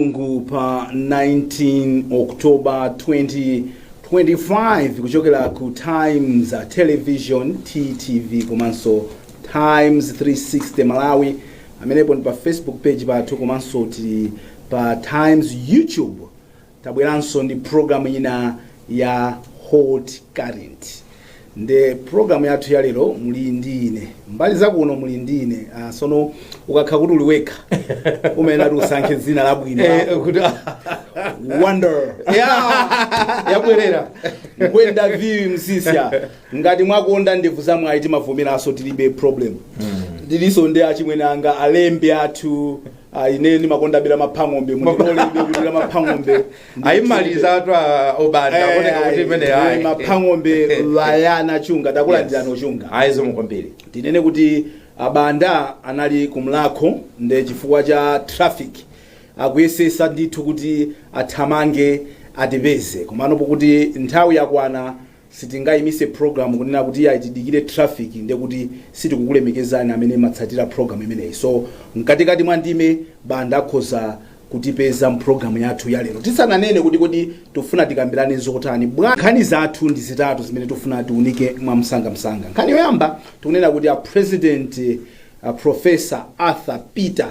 Lamulungu pa 19 October 2025 kuchokera ku Times uh, Television TTV komanso Times 360 Malawi amenepo ndi pa Facebook page pathu komanso tili pa Times YouTube tabweranso ndi program ina ya Hot Current ndiye program yathu ya lero muli ndi ine mbali zakuno muli ndi ine ah, sono ukakhala kuti uli wekha umayenera kuti usankhe dzina labwino Eh, kuti wonder Yeah, yabwerera Nkwenda vuwi Msiska ngati mwakonda ndevu zamwayi timavomeranso tilibe problem ndilinso ndi achimwene anga alembe athu ah, ine ndimakondabe Lamaphang'ombe mundilolebe kuti Lamaphang'ombe ayimalizatu obanda akoneka kuti imene ayi maphang'ombe Wanangwa Chunga takulandirani Yes. ochunga ayi zikomo kwambiri tinene kuti a Banda anali ku Mlakho nde chifukwa cha traffic akuyesetsa ndithu kuti athamange atipeze komano pokuti nthawi yakwana Sitingaimitse program kunena kuti iyayi tidikire traffic ndiye kuti sitikukulemekezani amene mumatsatira program imeneyi so mkatikati mwa ndime Banda akhoza kutipeza mu program yathu ya lero tisananene kuti kodi tikufuna tikambirane zotani. Nkhani zathu ndi zitatu zimene tikufuna tiunike mwa msangamsanga. Nkhani yoyamba tikunena kuti a President a Professor Arthur Peter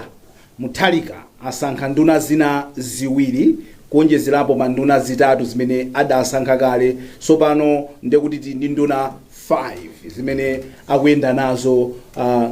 Mutharika asankha nduna zina ziwiri kuonjezerapo pa nduna zitatu zimene adasankha kale. Tsopano ndiye kuti tili ndi nduna 5 zimene akuyenda nazo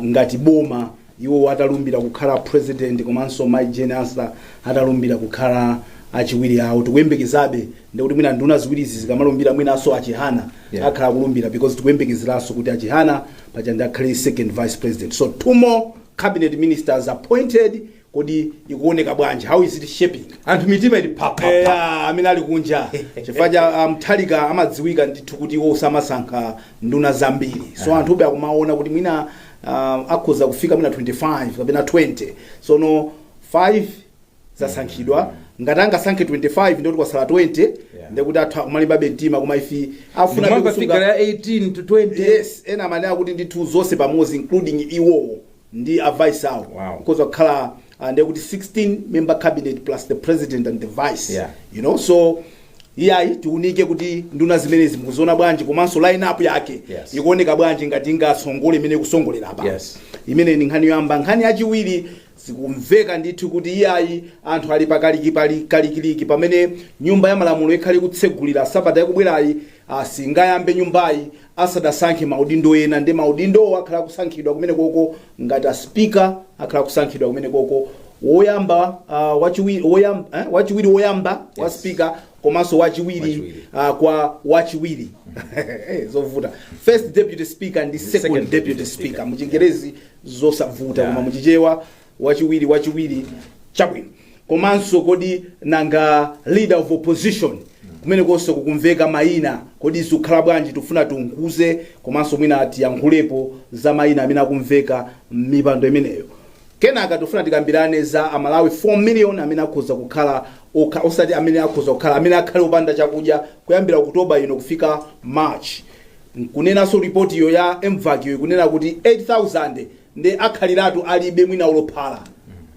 ngati boma, iwowo atalumbira kukhala pulezidenti komanso Mayi Jane Ansah atalumbira kukhala achiwiri awo. Tikuyembekezabe, ndiye kuti mwina nduna ziwirizi zikamalumbira mwinanso a Chihana akhala akulumbira because tikuyembekezeranso kuti a Chihana paja ndiye akhale second vice president. So two more. cabinet ministers appointed kodi ikuoneka bwanji how is it shaping anthu mitima ili phapha eya amene ali kunja chifukwa cha a Mutharika amadziwika ndithu kuti iwo samasankha nduna zambiri so anthube akumaona kuti mwina ah, akhoza kufika mwina 25 kapena 20 sono 5 zasankhidwa ngati angasankhe 25 ndiye kuti kwatsala 20 Yeah. ndiye kuti anthu akumalimbabe mtima koma ifi afuna Ndikumamva figure ya 18 to 20. yes ena amene akuti ndithu zonse pamodzi including iwowo ndi a vice awo Wow. because wakhala uh, ndekuti 16 member cabinet plus the president and the vice Yeah. you know so iyayi tiunike kuti nduna zimenezi mukuziona bwanji komanso line up yake Yes. ikuoneka bwanji ngati ingatsogole mmene ikutsogolera apa Yes. imeneyo ndi nkhani yoyamba nkhani yachiwiri Zikumveka ndithu kuti iyayi anthu ali pa kalikikalikiliki pamene nyumba ya malamulo ikhale ikutsegulira sabata ikubwerayi singayambe nyumbayi asadasankhe maudindo ena nde maudindowo akhala akusankhidwa kumenekoko ngati a speaker akhala akusankhidwa kumenekoko woyamba uh, wachiwiri woyam, eh, wachiwiri woyamba wa Yes. speaker komanso wachiwiri Wachiwiri. uh, kwa wachiwiri Eh, zovuta first deputy speaker ndi second, second deputy deputy speaker speaker. muchingerezi zosavuta yeah. koma muchichewa wachiwiri wachiwiri chabwino komanso kodi nanga leader of opposition kumene konse kukumveka mayina kodi zikukhala bwanji tifuna tiunguze komanso mwina tiyankhulepo za mayina amene akumveka m'mipando imeneyo kenaka tifuna tikambirane za amalawi 4 million amene akhoza kukhala osati amene akhoza kukhala amene akhale opanda chakudya kuyambira oktoba ino kufika march Kunenanso report yo ya mvac yo ikunena kuti 8000 nde akhaliratu alibe mwina olo phala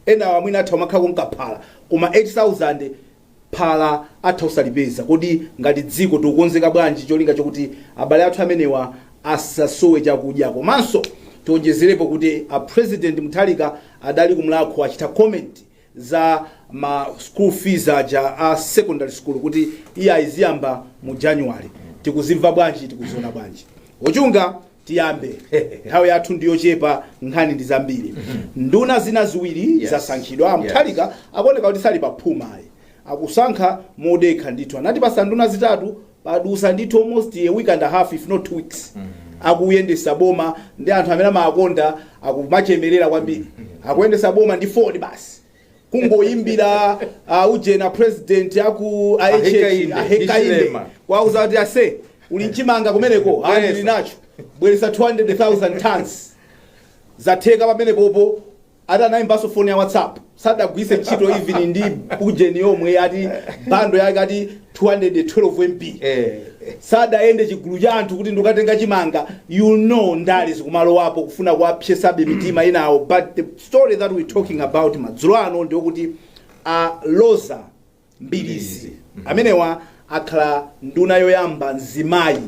enawa mwina atha kumakhala konka phala koma 8000 phala atha osalipeza kodi ngati dziko tikukonzeka bwanji cholinga chokuti abale athu amenewa asasowe chakudya komanso tionjezerepo kuti a president Mutharika adali ku Mulhako achita comment za ma school fees aja a secondary school kuti iyayi ziyamba mu january tikuzimva bwanji tikuziona bwanji ochunga tiyambe nthawi yathu ndiyochepa nkhani ndi zambiri nduna zina ziwiri Yes. zasankhidwa a Mutharika akuoneka kuti sali paphuma ayi akusankha modekha ndithu anatipasa nduna zitatu Padusa ndithu almost a week and half if not two weeks akuyendesa boma ndi anthu amene amawakonda akumachemerera kwambiri akuyendesa boma ndi phone basi kungoyimbira uh, ujena president aku Ahekainde, ahekainde Hichilema. kwauza kuti ase uli nchimanga kumeneko Bweresa. ali ndili nacho bweresa 200000 tons zatheka pamenepopo Ati anaimbanso phone ya whatsapp sadagwiritse ntchito even ndi ujeni yomwe ati bando yake ati 212 mb Eh. sadayende chigulu cha anthu kuti ndikatenga chimanga you know ndale zikumalowapo kufuna kuwapsesabe mitima inawo but the story that we talking about madzulo ano ndi yokuti a Roza Mbilizi amenewa akhala nduna yoyamba mzimayi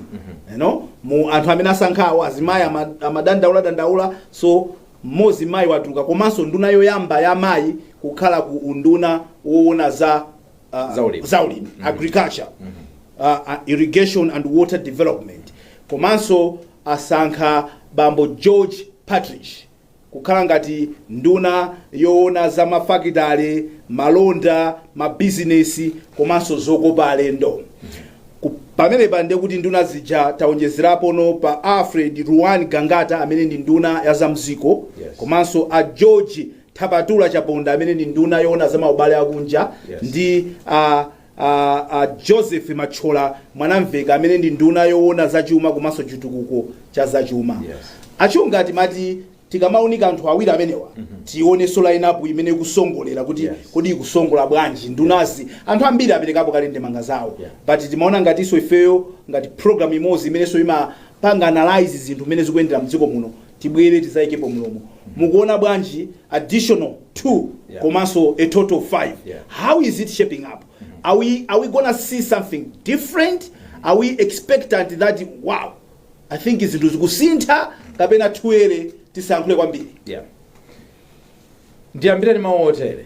you know, mu anthu amene asankhawo azimayi ama- amadandaula dandaula so mmodzi mayi watuluka komanso nduna yoyamba ya mayi kukhala ku unduna woona za ah, Zaulimi. zaulimi agriculture uh, uh, irrigation and water development komanso asankha bambo george Partridge kukhala ngati nduna yoona za mafakitale, malonda, mabizinesi komanso zokopa alendo. Ku- Pamenepa ndiye kuti nduna zija taonjezerapono pa Alfred Ruwan Gangata amene ndi nduna ya zamziko Yes. komanso a George Thapatula Chaponda amene ndi nduna yoona za maubale akunja Yes. ndi a A Joseph Mathyola Mwanamvekha amene ndi nduna yowona za chuma komanso chitukuko cha za chuma a Chunga timati tikamaunika anthu awiri amenewa tionenso line up imene ikusongolera kuti kodi ikusongola bwanji ndunazi anthu ambiri aperekapo kale ndemanga zawo but timaona ngatinso ifeyo ngati program imodzi imenenso imapanga analyze zinthu mmene zikuyendera mdziko muno tibwere tizaikepo mlomo mukuona bwanji additional 2 yeah. komanso a total of 5 yeah. how is it shaping up mm -hmm. are, we, are we gonna see something different mm -hmm. are we expectant that wow i think zinthu zikusintha kapena thuere tisankhule kwambiri yeah. ndiyambireni mawu otere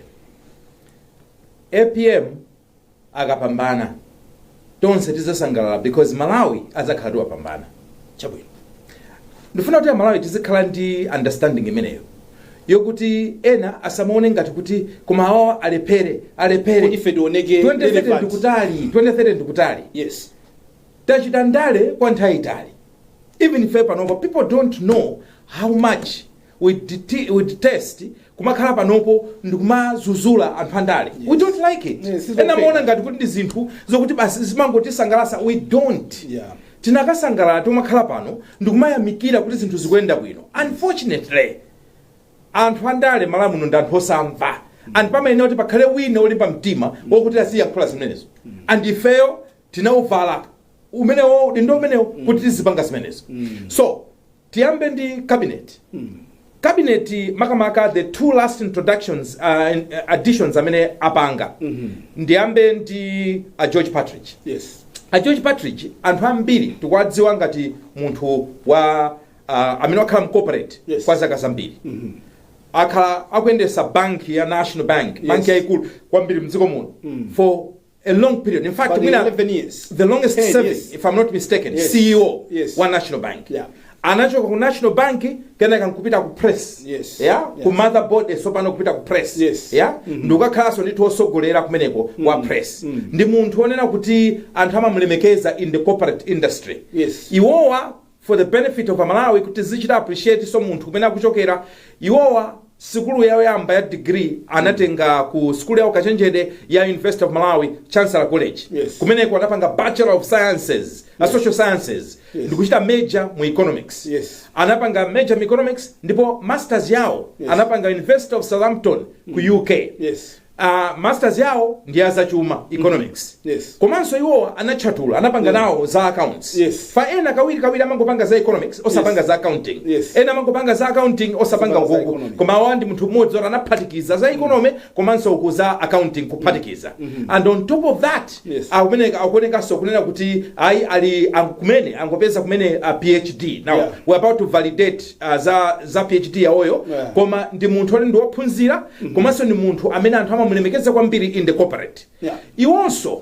apm akapambana tonse tizasangalala because malawi azakhala atawapambana chabwino ndifuna kuti amalawi tizikhala ndi understanding imeneyo yokuti ena asamaone ngati kuti koma awowa alephere alephere Kuti ife tioneke 2030 relevant. ndikutali 2030 ndikutali yes tachita ndale kwa nthawi yaitali even ife panopa people don't know how much we dete we detest kumakhala panopo ndikumazuzula anthu andale we don't like it Yes, it's ena okay. amaona ngati kuti ndi zinthu zokuti basi zimangotisangalasa we don't Yeah. tinakasangalala kumakhala pano ndikumayamikira kuti zinthu zikuyenda bwino unfortunately anthu andale mMalawi muno ndi anthu osamva and pamayenera kuti pakhale wina olimba mtima wokuti aziyankhula zimenezo and ifeyo tinauvala umenewo udindo umenewo kuti tizipanga zimenezo so tiyambe ndi cabinet cabinet makamaka the two last introductions uh, in- additions amene apanga ndiyambe ndi a george partridge yes a george partridge anthu ambiri tikuwadziwa ngati munthu wa uh, amene wakhala mcorporate Yes. kwa zaka zambiri akhala akuyendesa banki ya national bank banki yayikulu kwambiri mdziko muno for a long period. In fact, But mwina 11 years. the longest 10 serving, years. if I'm not mistaken, Yes. CEO Yes. wa National Bank. Yeah. Anachoka ku National Bank kenaka nkupita ku press. Yes. Yeah? Yeah. Ku motherboard eh, sopano kupita ku press. Yes. Yeah? Ndikukakhalanso ndithu otsogolera kumeneko wa press. Ndi munthu onena kuti anthu amamulemekeza in the corporate industry. Yes. Iwowa for the benefit of amalawi kuti tizichita appreciate so munthu kumene akuchokera iwowa sukulu yawo yoyamba ya degree anatenga ku sukulu ya ukachenjede ya university of malawi chancellor college Yes. kumeneko anapanga bachelor of sciences a social sciences Yes. ndikuchita major mu economics Yes. anapanga major mu economics ndipo masters yawo Yes. anapanga university of southampton ku uk yes Uh, masters yawo ndi ya zachuma economics mm -hmm. yes. komanso iwowa anatchatala anapanga yeah. nawo za accounts yes. fa ena kawiri kawiri amangopanga za economics osapanga yes. za accounting yes. ena amangopanga za accounting osapanga ukuku koma awa ndi munthu mmodzi oti anaphatikiza za economy mm -hmm. komanso uku za accounting kuphatikiza mm -hmm. and on top of that yes. akumeneka akuonekanso kunena kuti ayi ali kumene angopeza kumene a phd now yeah. we're about to validate ah, za za phd yawoyo Yeah. koma ndi munthu oti ndi wophunzira komanso ndi munthu amene anthu amamulemekeza kwambiri in the corporate Yeah. iwonso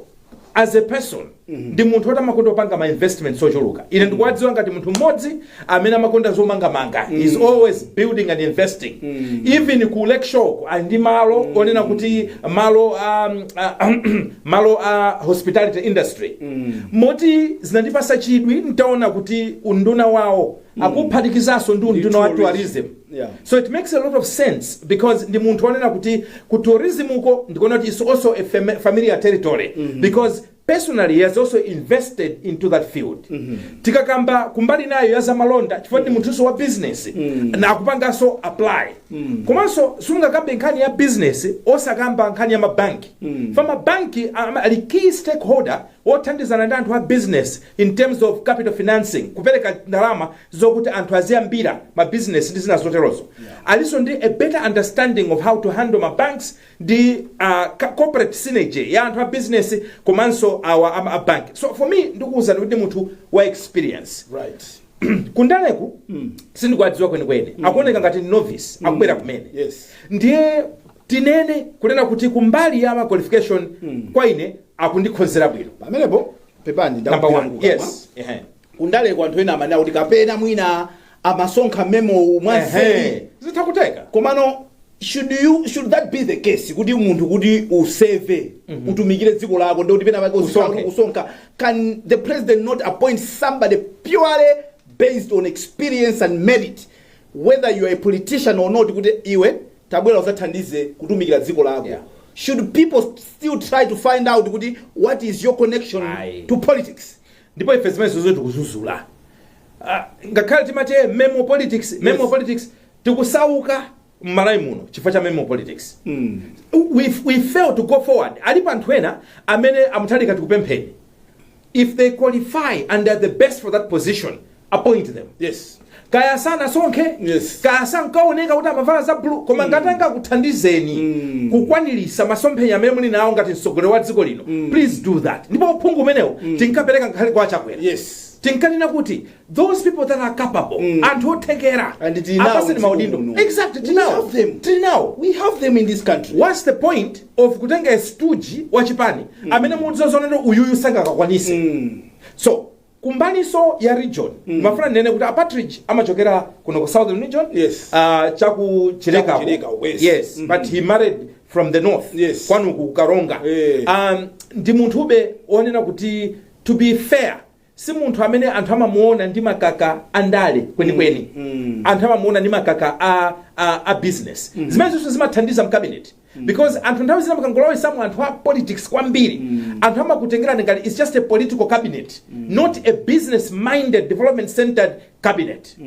as a person ndi munthu oti amakonda kupanga ma investments ochuluka ine ndikuwadziwa ngati munthu mmodzi amene amakonda zomangamanga is always building and investing even ku lake shore ali ndi malo onena kuti malo um, uh, malo a hospitality industry moti zinandipasa chidwi nditaona kuti unduna wawo akuphatikizanso ndi unduna wa tourism Yeah. so it makes a lot of sense because ndi munthu onena kuti ku tourism uko ndikuona kuti it's also a fam- familiar territory because personally he has also invested into that field tikakamba kumbali nayo ya zamalonda chifukwa ndi munthunso wa business na akupanganso apply komanso sungakambe nkhani ya business osakamba nkhani ya mabanki fa mabanki am- ali key stakeholder wothandizana ndi anthu a business in terms of capital financing kupereka ndalama zokuti anthu aziyambira ma business ndi zina zoterozo alinso ndi a better understanding of how to handle ma banks ndi uh, ca- corporate synergy ya anthu a business komanso awa ama a bank so for me ndikuona kuti ndi munthu wa experience right kundaleku sindikuwadziwa kwenikweni akuoneka ngati ndi novice akubwera kumene yes ndiye tinene kunena kuti kumbali ya ma qualification kwa ine akundikhonzera bwino pamenepo pepani number ndakugwira one kukamwa. yes ehe kundaleku anthu ena amanena kuti kapena mwina amasonkha memo mwanseri ehe zitha kutheka komano should you should that be the case kuti munthu kuti userve utumikire dziko lako ndikuti pena pake uzikhala Usonkhe. kuti kusonkha can the president not appoint somebody purely based on experience and merit whether you are a politician or not kuti iwe tabwera uzathandize kutumikira dziko lako Yeah. should people st- still try to find out kuti what is your connection Aye. to politics ndipo ife zimenezozo tikuzuzula Ah, ngakhale timati eh, memo politics memo Yes. politics tikusauka m'Malawi muno chifukwa cha memo politics we, we fail to go forward alipo anthu ena amene a Mutharika tikupempheni If they qualify and are the best for that position, appoint them. Yes. kaya sanasonkhe Yes. kaya sankaoneka kuti amavala za blue koma ngati angakuthandizeni kukwaniritsa masomphenya amene muli nawo ngati mtsogoleri wa dziko lino please do that ndipo uphungu umenewo tinkapereka ngakhale kwa a Chakwera Yes. tinkanena kuti those people that are capable mm. anthu othekera and tinawo apaseni maudindo exactly tinawo them tinawo we have them in this country what's the point of kutenga stuji wa chipani mm. amene mudziwa zonero uyuyu sangakakwanise mm. so kumbaliso ya region mm. mafuna ndene kuti a Partridge amachokera kuno ku southern region yes. uh, chaku chileka yes, yes. Mm -hmm. but he married from the north yes. kwanu ku karonga hey. Eh. um, ndi munthube onena kuti to be fair si munthu amene anthu amamuona ndi makaka andale kwenikweni anthu amamuona ndi makaka a, a, a business zimene zonse zimathandiza mkabineti because anthu nthawi zina mukangolowesamo anthu a politics kwambiri anthu amakutengerani ngati its just a political cabinet not a business minded development centered cabinet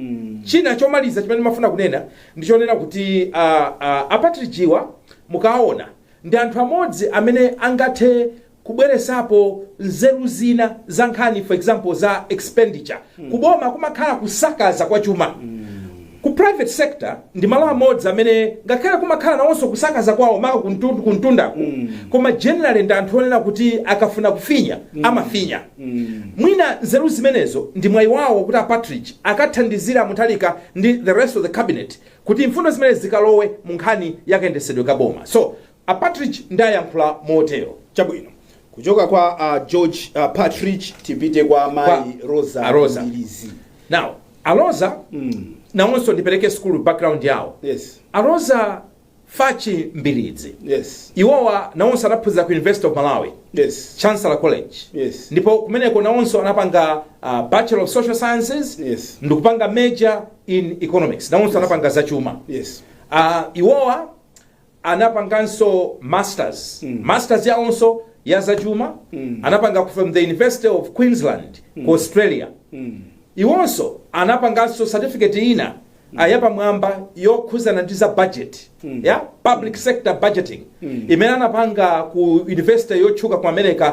china chomaliza chimene mafuna kunena ndichonena kuti uh, uh, a Partridge-wa mukaona ndi anthu amodzi amene angathe kubweresapo nzeru zina za nkhani for example za expenditure ku boma kumakhala kusakaza kwa chuma ku private sector ndi malo amodzi amene ngakhale kumakhala nawonso kusakaza kwawo maka kumtu- kumtundako koma generally ndi anthu onena kuti akafuna kufinya amafinya mwina nzeru zimenezo ndi mwayi wawo kuti a Partridge akathandizire Mutharika ndi the rest of the cabinet kuti mfundo zimenezi zikalowe mu nkhani ya kayendesedwe ka boma so A Partridge nde ndayankhula motero. Chabwino. Kuchoka kwa a George Partridge tipite kwa Kwa mayi Roza a Roza. Mbilizi. Now, a Roza nawonso ndipereke school background yawo. Yes. A Roza Fatchi Mbilizi. Yes. Iwowa nawonso anaphunzira ku University of Malawi. Yes. Chancellor College. Yes. Ndipo kumeneko nawonso anapanga uh, Bachelor of Social Sciences Yes. ndikupanga major in economics. Nawonso anapanga zachuma. Yes. Uh, iwowa anapanganso masters masters yawonso ya zachuma anapanga from the university of queensland ku australia iwonso anapanganso certificate ina ah, yapamwamba yokhuzana ndi za budget ya public sector budgeting imene anapanga ku university yotchuka ku america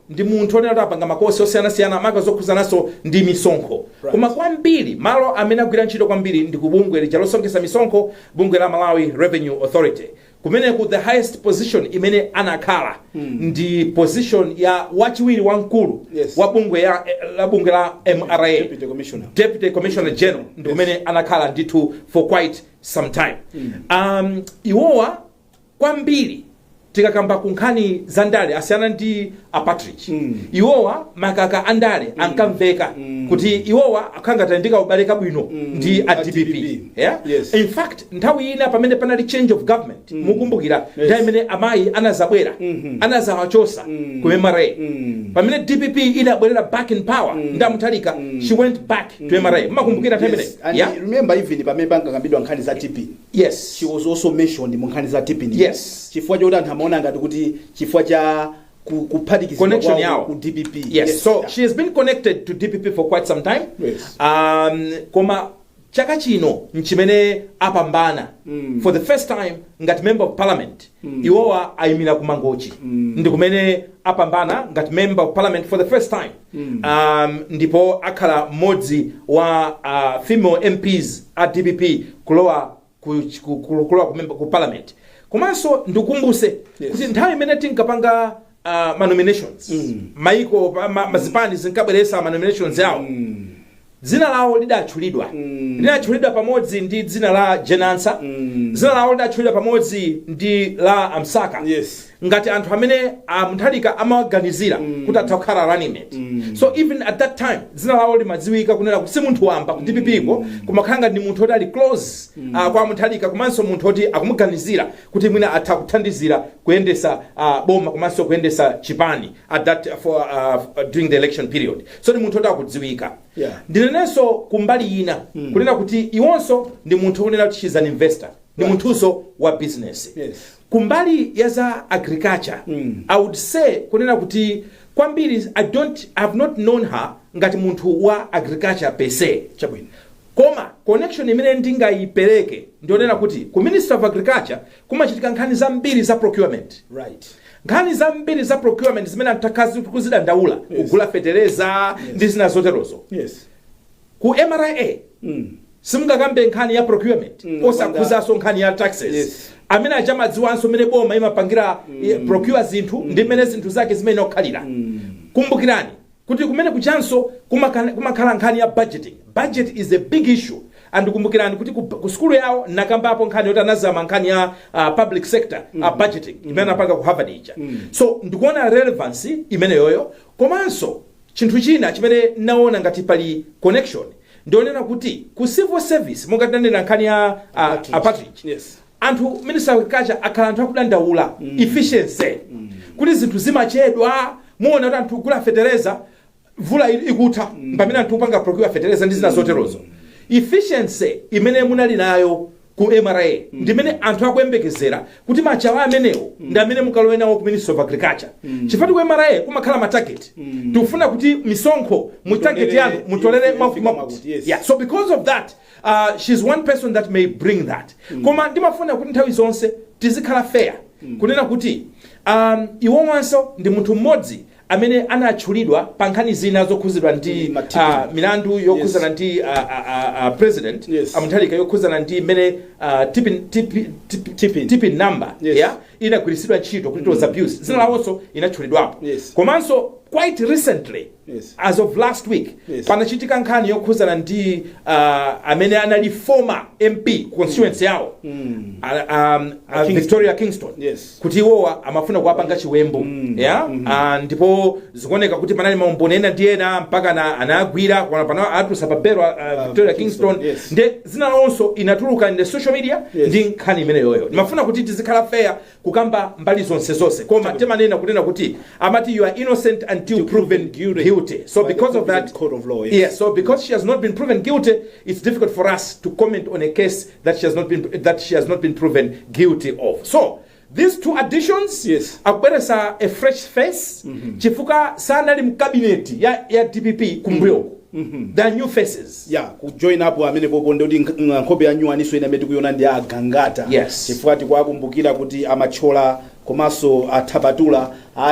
ndi munthu onena kuti apanga makosi osiyanasiyana maka zokhuzananso ndi misonkho koma kwambiri malo amene agwira ntchito kwambiri ndi ku bungwe lija losonkhetsa misonkho bungwe la malawi revenue authority kumeneku the highest position imene anakhala ndi position ya wachiwiri wa mkulu Yes. wa bungwe ya la bungwe la mra Deputy Commissioner. deputy commissioner general ndi kumene anakhala ndithu for quite some time um, iwowa kwambiri tikakamba ku nkhani za ndale asiyana ndi apatridge mm. iwowa makaka a ndale mm. ankamveka mm. kuti iwowa akhala ndi kaubale kabwino mm. ndi a dpp yeah? yes. in fact nthawi ina pamene panali change of government mm. mukumbukira yes. nthawi imene amayi anazabwera mm -hmm. anazawachosa mm. ku mra mm. pamene dpp inabwerera back in power mm. ndi a Mutharika mm. she went back mm. to mra mukumbukira nthawi yes. imene yeah? remember even pamene pankakambidwa nkhani za tp Yes. She was also mentioned mu nkhani za TP. Yes. Chifukwa choti anthu amaona ngati kuti chifukwa cha ku- kuphatikizidwa Connection kwawo yawo. ku DPP. Yes. So yeah. she has been connected to DPP for quite some time. Yes. Um, koma chaka chino nchimene apambana mm. for the first time ngati member of parliament mm. iwowa ayimira ku Mangochi mm. ndi kumene apambana ngati member of parliament for the first time um, ndipo akhala mmodzi wa uh, female mps a dpp kulowa ku, ku, ku, kulowa ku, member- ku parliament komanso ndikumbuse Yes. kuti nthawi imene tinkapanga uh, ma nominations maiko pa- ma, zipani zinkabweretsa ma nominations awo Dzina lawo lidatchulidwa. Linatchulidwa pamodzi ndi dzina la Jane Ansah. Dzina lawo lidatchulidwa pamodzi ndi la a Msaka Yes. ngati anthu amene a Mutharika amawaganizira kuti atha kukhala running mate. So even at that time dzina lawo limadziwika kunena kuti si munthu wamba ku DPP ko koma kukhala ndi munthu woti ali close ah, kwa a Mutharika komanso munthu woti akumuganizira kuti mwina atha kuthandizira kuyendetsa ah, boma komanso kuyendetsa chipani at that for ah, during the election period. So ndi munthu woti akudziwika. Yeah. Ndinenenso ku mbali ina kunena kuti iwonso ndi munthu okunena kuti she's an investor. Ndi Right. munthunso wa business. Yes. Ku mbali ya za agriculture, I would say kunena kuti kwambiri I don't I have not known her ngati munthu wa agriculture per se. Chabwino. koma connection imene ndingayipereke ndi yonena kuti ku ministry of agriculture kumachitika nkhani zambiri za procurement right nkhani zambiri za procurement zimene anthu takhala tikuzidandaula yes. kugula fetereza yes. ndi zina zoterozo yes ku mra mm. simungakambe nkhani ya procurement mm, osakhuzanso nkhani ya taxes yes. amene aja amadziwanso mmene boma imapangira mm. procure zinthu mm. ndi mmene zinthu zake zimayenera kukhalira mm. kumbukirani kuti kumene kujanso kumakhala nkhani ya budget is a big issue and kumbukirani kuti ku, ku sukulu yawo nakambapo nkhani yoti anazama nkhani ya uh, public sector mm. uh, budgeting imene anapanga ku harvard ija mm. so ndikuona relevance imeneyo komanso chinthu china chimene naona ngati pali connection ndi yonena kuti ku civil service monga tinanena nkhani ya uh, a partridge Yes. anthu minister of agriculture akhala anthu akudandaula efficiency kuti zinthu zimachedwa muona kuti anthu kugula fetereza mvula ili- ikutha pamene anthu kupanga procure fetereza ndi zina zoterozo efficiency imene munali nayo ku mra ndimene anthu akuyembekezera kuti machawi amenewo ndi amene mukalowe nawo ku ministry of agriculture chifukwatu ku mra kumakhala matarget tikufuna kuti misonkho mu target yanu mutolere mwakuti mwakuti Yeah, so because of that uh, she's one person that may bring that mm. koma ndimafuna kuti nthawi zonse tizikhala fair mm. kunena kuti um, iwowanso ndi munthu mmodzi amene anatchulidwa pa nkhani zina zokhuzidwa ndi mm, uh, milandu yokhuzana yes. ndi uh, uh, uh, president yes. a Mutharika yokhuzana ndi mmene uh, TPIN, TPIN, TPIN, TPIN. TPIN number yes. yeah? inagwiritsidwa ntchito kuti it was abused dzina lawonso inatchulidwapo yes. komanso quite recently Yes. as of last week Yes. panachitika nkhani yokhuzana ndi uh, amene anali former mp constituency yawo mm. uh, um, uh, Kingston. victoria kingston Yes. kuti iwowa amafuna kuwapanga chiwembu mm. yeah? mm -hmm. uh, ndipo zikuoneka kuti panali maumboni ena ndi ena mpaka na, anagwira pana- pana atulutsa pa belo uh, victoria Kingston, kingston yes. nde dzina lawonso inatuluka in the social media Yes. ndi nkhani imeneyoyo ndimafuna kuti tizikhala fair kukamba mbali zonse zonse koma timanena kunena kuti amati you are innocent until proven guilty so By the because of that competent court of law, yes. yes so because she has not been proven guilty it's difficult for us to comment on a case that she has not been that she has not been proven guilty of so these two additions Yes. akubweresa a fresh face chifukwa sanali mkabineti ya, ya dpp kumbuyoku there are new faces ya kujoin up amene popo ndoti nkh- ng- nkhope ya nyuwaniso ina imene tikuyona ndi a Gangata Yes. chifukwa tikuwakumbukira kuti a Mathyola komanso a Chaponda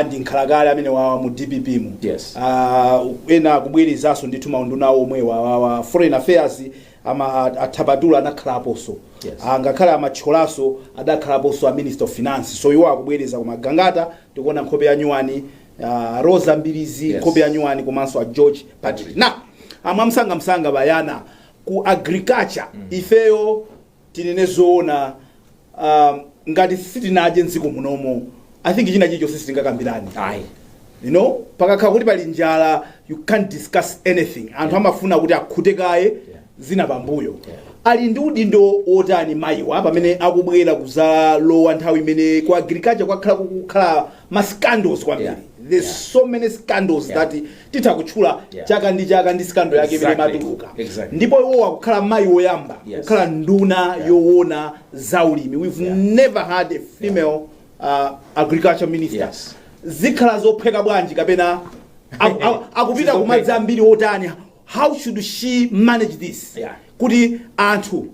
ndi nkhalakale amene wawa mu dpp mu Yes. Ah, ena akubwerezaso ndithu maunduna awo omwe wawawa foreign affairs ama a- a Chaponda anakhalaponso Yes. Ah, ngakhale amatcholaso adakhalaponso a minister of finance so iwo akubwereza koma a Gangata tikuona nkhope ya nyuwani uh, roza mbilizi Yes. nkhope ya nyuwani komanso a george partridge nde amwe mwamsangamsanga Brian ku agriculture ifeyo tinene zoona um, ngati sitinadye mdziko munomo i think china chilichonse sitingakambirani ayi you know pakakhala kuti pali njala you can't discuss anything anthu amafuna kuti akhute kaye zina pambuyo. Ali ndi udindo wotani mayiwa pamene akubwera kuzalowa nthawi imene ku agriculture kwakhala kukukhala ma scandals kwambiri Yeah. there's Yeah. so many scandals Yeah. that titha kutchula Yeah. chaka ndi chaka ndi scandal yake imene Exactly. imatuluka Exactly. ndipo iwo akukhala mayi woyamba Yes. kukhala nduna Yeah. yowona za ulimi we've Yeah. never had a female uh, agriculture minister Yes. zikhala zophweka bwanji kapena aku- aku- akupita Sizophweka. kumadzi ambiri otani how should she manage this Yeah. kuti anthu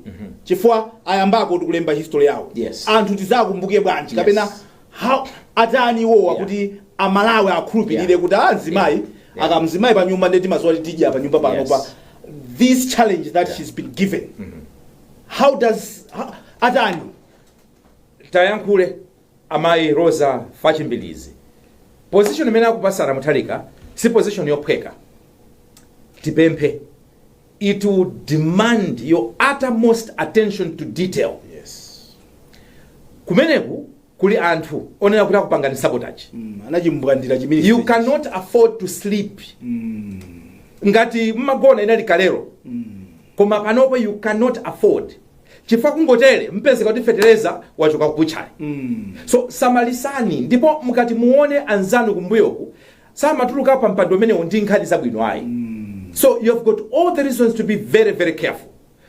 chifukwa ayambako tikulemba history yawo Yes. anthu tizakumbuke bwanji Yes. kapena how atani iwowa Yeah. kuti amalawi akhulupirire Yeah. kuti amzimayi Yeah. Yeah. akakhala mzimayi pa nyumba nde timadziwa titidya pa nyumba pano Yes. pa this challenge that Yeah. she's been given how does how, atani tayankhule Amayi Roza Fachi Mbilizi position imene akupasani a Mutharika si position yophweka tipemphe it will demand your uttermost attention to detail kumeneku kuli anthu onena kuti akupangani sabotage Mm, anachimbwandira chimenecho you cannot afford to sleep ngati mmagona inali kalero koma panopo you cannot afford chifukwa kungotere mpezeka kuti fetereza wachoka ku butchery so samalisani ndipo mukati muone anzanu kumbuyoku samatuluka pa mpando umenewu ndi nkhani zabwino ayi so you have got all the reasons to be very very careful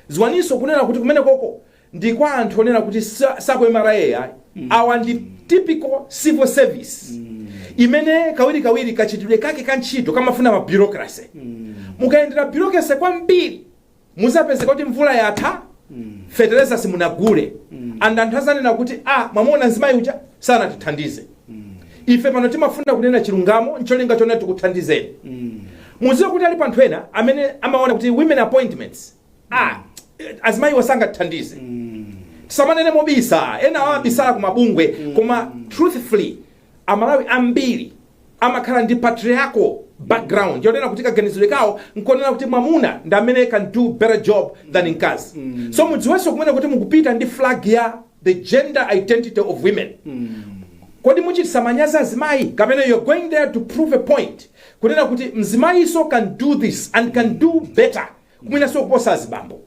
ziwaninso kunena kuti kumenekoko ndi kwa anthu onena kuti si ku MRA ayi awa ndi typical civil service imene kawirikawiri kachitidwe kake ka ntchito kamafuna mabureaucracy mukayendera bureaucracy kwambiri Muzapezeka kuti mvula yatha fetereza simunagule and anthu azanena kuti ah mwamuona mzimayi uja sanatithandize. Ife pano timafuna kunena chilungamo ncholinga chonena tikuthandizeni. Muziwe kuti alipo anthu ena amene amaona kuti women appointments ah azimayiwa sangatithandize. Tisamanene mobisa enawa abisala ku mabungwe koma truthfully Amalawi ambiri amakhala ndi patriarchal background yonena kuti kaganizidwe kawo nkonena kuti mwamuna ndi amene can do better job than mkazi so mudziwenso kunena kuti mukupita ndi flag ya the gender identity of women kodi muchitisa manyazi azimayi kapena you're going there to prove a point kunena kuti mzimayiso can do this and can do better kumenenso kuposa azibambo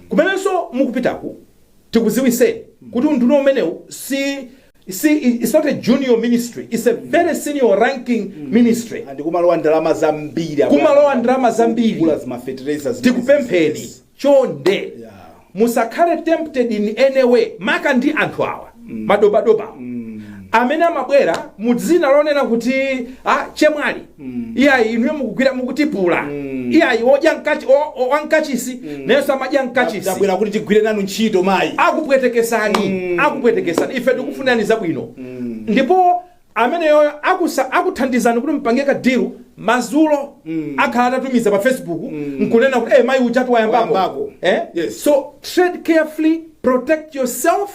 kumenenso mukupitako tikuziwiseni kuti unduna umenewu si si it's not a junior ministry it's a very senior ranking ministry and kumalowa ndalama zambiri Kumalowa ndalama zambiri. kugula zimafetereza zimene tikupempheni chonde Musakhale tempted in any way maka ndi anthu awa madobadoba awa amene amabwera mu dzina lonena kuti ah, chemwali iyayi inuyo mukugwira mukutipula iyayi odya mkachi- o- o- wa mkachisi nayenso amadya mkachisi tabwera kuti tigwire nanu ntchito mayi akupwetekesani akupwetekesani ife tikufunirani zabwino ndipo ameneyoyo akuthandizani kuti mpange ka deal mazulo akhala atatumiza pa facebook nkunena kuti eh mai ujatu wayambako Wayambako. eh Yes. so tread carefully protect yourself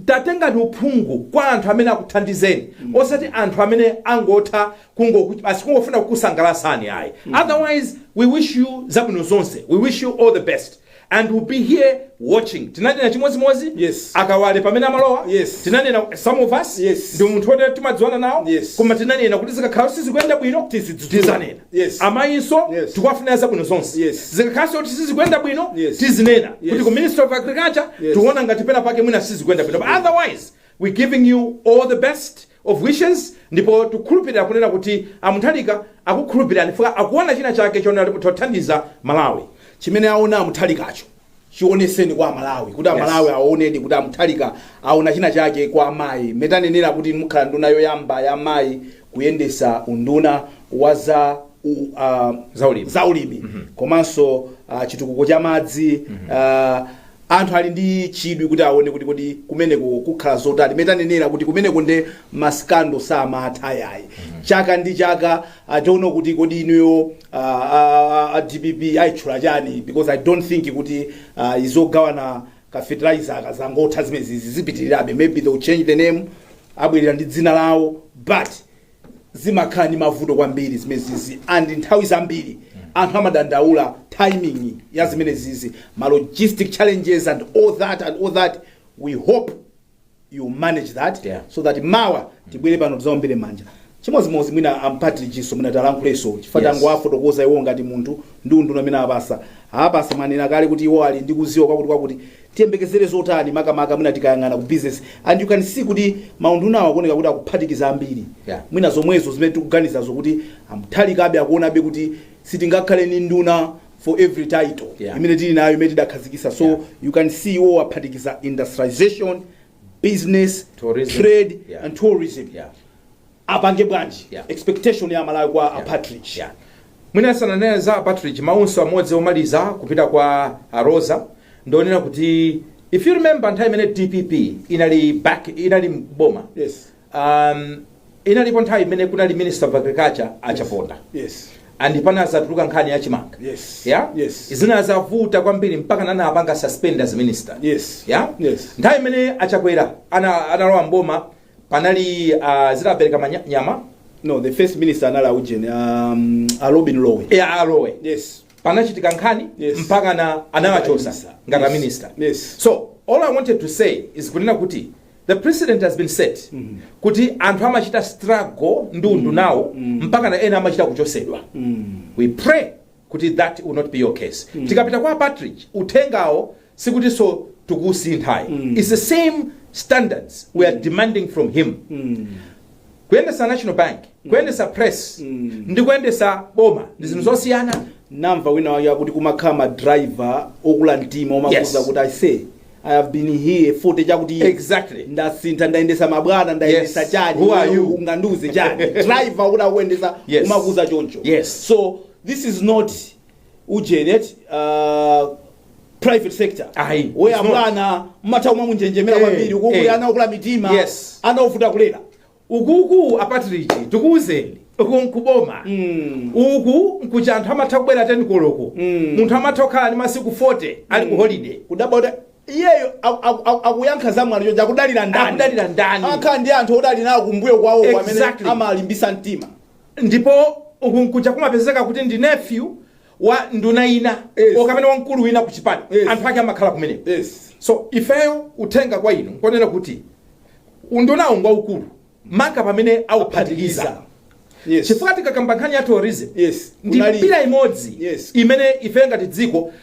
tatengani uphungu kwa anthu amene akuthandizeni osati anthu amene angotha kungoku- basi kungofuna kukusangalasani ayi otherwise we wish you zabwino zonse we wish you all the best and we'll be here watching tinanena chimodzimodzi Yes. a Kawale pamene amalowa Yes. tinanena some of us Yes. ndi munthu woti timadziwana nawo Yes. koma tinanena kuti zikakhala sizikuyenda bwino Tizidzudzula. tizanena Yes. amayinso Yes. tikuwafunira zabwino zonse Yes. zikakhalanso kuti sizikuyenda bwino Yes. tizinena Yes. kuti ku ministry of agriculture Yes. tiona ngati pena pake mwina sizikuyenda bwino but otherwise we're giving you all the best of Wishes ndipo tukhulupilira kunena kuti a Mutharika akukhulupilirani chifukwa akuona china chake chonena kuti mutha kuthandiza Malawi. Chimene aona a Mutharikacho chioneseni kwa a Malawi kuti a Yes. Malawi aonedi kuti a Mutharika aona china chake kwa amayi. Mmene tanenera kuti inu mukhala nduna yoyamba ya amayi kuyendesa unduna wa za u- ah, Zaulimi. zaulimi komanso ah, chitukuko cha madzi ah, Anthu ali ndi chidwi kuti aone kuti kodi kumeneko kukhala zotani. Mmene tanenera kuti kumeneko nde ma scandal samatha yayi. Chaka ndi chaka I don't know kuti kodi inuyo a, a, a, a DPP ayitchula chani because I don't think kuti ah, izogawana ka fertilizer aka zangotha zimenezi zipitirirabe maybe they will change the name abwerera ndi dzina lawo but zimakhala ndi mavuto kwambiri zimenezizi and nthawi zambiri anthu amadandaula timing ya zimenezizi ma logistic challenges and all that and all that we hope you manage that Yeah. so that mawa tibwere pano tizaombere manja chimodzimodzi mwina a Partridge so mwina talankhuleso chifukwa Yes. tangowafotokoza iwo ngati munthu ndi unduna amene apasa apasa mwanena kale kuti iwo ali ndi kuziwa kwakuti kwakuti Tiyembekezere zotani makamaka mwina tikayang'ana ku business and you can see kuti maundunawa akuoneka kuti akuphatikiza ambiri yeah mwina zomwezo zimene tikuganizazo kuti a Mutharikabe akuonabe kuti sitingakhale ndi nduna for every title yeah imene tili nayo imene tidakhazikisa so yeah you can see iwowo aphatikiza industrialisation business Tourism. trade Yeah. and tourism Yeah. apange bwanji Yeah. expectation ya Malawi kwa yeah. a Partridge Yeah. mwina sananena za Partridge maunso amodzi omaliza kupita kwa a Roza ndi onena kuti if you remember nthawi imene DPP inali back inali m'boma yes Um, inalipo nthawi imene kunali minister of agriculture a Chaponda yes and panazatuluka nkhani ya chimanga Yes. yeah? Yes. zinazavuta kwambiri mpakana anawapanga suspend as minister Yes. yeah? Yes. nthawi imene a Chakwera ana- analowa m'boma panali uh, zinapereka manya- nyama no the first minister anali aujeni um, a Lobin Lowe ya a Lowe yes panachitika nkhani Yes. mpakana anawachosa Yes. ngati Yes. minister Yes. so all I wanted to say is kunena kuti The precedent has been set kuti anthu amachita struggle ndi undunawo mpakana ena amachita kuchosedwa we pray kuti that will not be your case tikapita kwa Partridge uthengawo sikutinso tikusintha ayi it's the same standards we are demanding from him kuyendesa national bank kuyendesa press ndi kuyendesa boma ndi zinthu zosiyana namva wina wake akuti kumakhala madriver okula mtima omakuza Yes. kuti ise i have been here forty chakuti iye. Exactly. ndasintha ndayendesa mabwana ndayendesa Yes. chani Who are you? ungandiuze chani driver woti akuyendesa Yes. umakuza choncho Yes. so this is not ujeni eti uh, private sector Ayi, it's not. abwana amatha kumamunjenjemera Eh, kwambiri ukuku eh. ana okula mitima Yes. ana ovuta kulera ukuku a Patrick tikuwuzeni uku nkuboma Mm. uku nkuja anthu amatha kubwera 10 koloko Mm. munthu amatha kukhala ndi masiku 40 ali ku holiday kudabwa kuti iyeyo aku- aku- aku- akuyankha za mwano chonchi akudalira ndani Akudalira ndani. akhala ndi anthu oti ali nawo kumbuyo kwawo amene Exactly. amalimbisa mtima Ndipo uku nkuja kumapezeka kuti ndi nephew wa nduna ina Yes. or kumene wamkulu wina ku chipani Yes. anthu ake amakhala kumeneko Yes. so ifeyo uthenga kwa inu nkonena kuti undunawu ngwaukulu maka pamene auphatikiza Yes. chifukwa tikakamba nkhani ya tourism Yes. ndi Kunali- mbali imodzi Yes. imene ife ngati dziko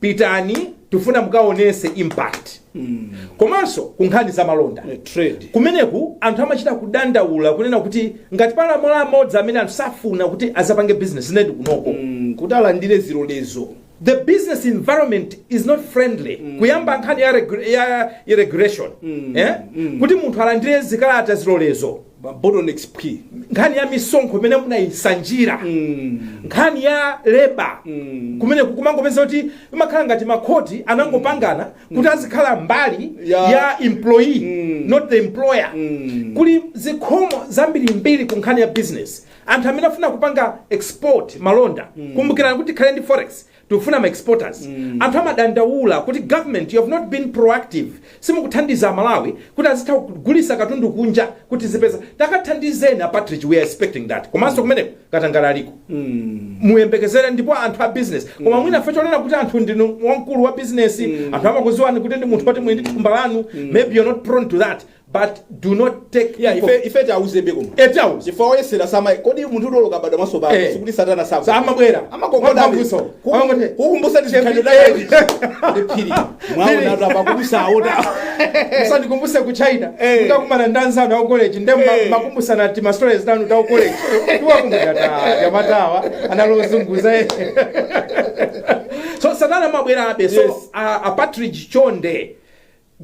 pitani tifuna mukaonese impact komanso ku nkhani za malonda Eh, trade kumeneku anthu amachita kudandaula kunena kuti ngati pali malo amodzi amene anthu safuna kuti azapange business ndiyedi kunoko Mm, kuti alandire zilolezo the business environment is not friendly kuyamba nkhani ya, regu- ya, ya regulation eh? kuti munthu alandire zikalata zilolezo ma bottlenecks phwi nkhani ya misonkho imene munayisanjira nkhani ya leba kumene kumangopeza kuti imakhala ngati makhoti anangopangana kuti azikhala mbali Ya. ya employee not the employer kuli zikhomo zambirimbiri ku nkhani ya business anthu amene afuna kupanga export malonda kumbukirani kuti tikhale ndi forex tikufuna ma exporters anthu amadandaula kuti government you have not been proactive simukuthandiza amalawi kuti azitha kugulisa katundu kunja kuti tizipeza takathandizeni a Patrick we are expecting that komanso kumeneko katangala aliko muyembekezere ndipo anthu a business koma mwina ife chonena kuti anthu ndinu wamkulu wa business anthu amakuziwani kuti ndinu munthu woti muli ndi thumba lanu maybe you're not prone to that But do not take yeah, ife, ife tiwauzebe koma e tiwauze chifukwa woyesera sama kodi munthu uti oloka bado maso pano Eh. sikuti satana sa Sa amabwera. amakongoda Mwamvuso. Amangoti- kukumbusa tichikhalidwe taketu ndi phiri mwaona tu apa kubusa aota usandikumbuse ku china Eh. utakumana ndi anzanu aku college nde ma- Eh. makumbusana ti ma stories tanu ta ku college tiwakumbuka ta jamatawa analozunguza eh. so satana amabwerabe so Yes. a, a patrick chonde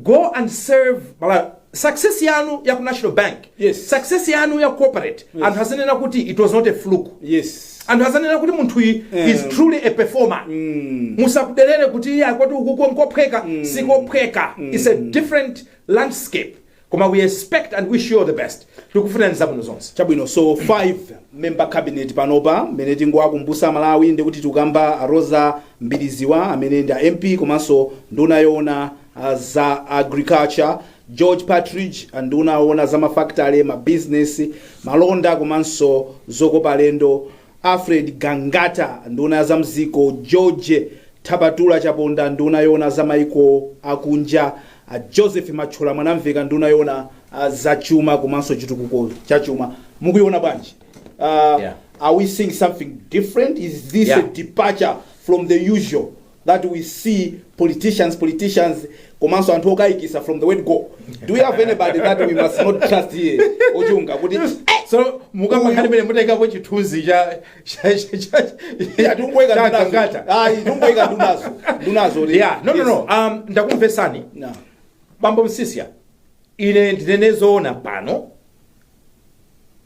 go and serve Malawi. Success yanu ya ku National Bank, Yes. success yanu ya corporate, Yes. anthu azinena kuti it was not a fluke. yes Anthu azinena kuti munthu uyu Eh. is truly a performer. mm. Musakuderere kuti iye akwati ukuko nkophweka, sikophweka. It's a different landscape. Koma we expect and wish you all the best. Tikufunirani zabwino zonse. Chabwino so 5 member cabinet panopa mmene tingowakumbusa amalawi ndekuti tikukamba a Roza Mbiliziwa amene ndi a MP komanso nduna yoona ah, za agriculture, George Patridge ah, nduna yoona za ma factory, ma business, malonda komanso zokopa alendo, Alfred Gangata, nduna ya za m'dziko, George T. Chaponda, nduna yoona za maiko akunja, a Joseph Mathyola Mwanamvekha, nduna yoona za chuma komanso chitukuko cha chuma. Mukuiona bwanji? Uh, Yeah. Are we seeing something different? Is this Yeah. a departure from the usual that we see politicians politicians komanso anthu okayikisa from the word go? Do we have anybody that we must not trust here ochunga kuti eh, so mukanakhala mmene mutayikapo chithunzi cha cha- cha- cha- yeah, tungoyika cha ndunazo. Gangata. Ayi, tungoyika ndunazo ndunazo kuti- yeah no no Yes. no um ndakumvesani Nah. bambo Msiska ine ndinene zoona pano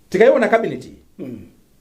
tikayiona kabineti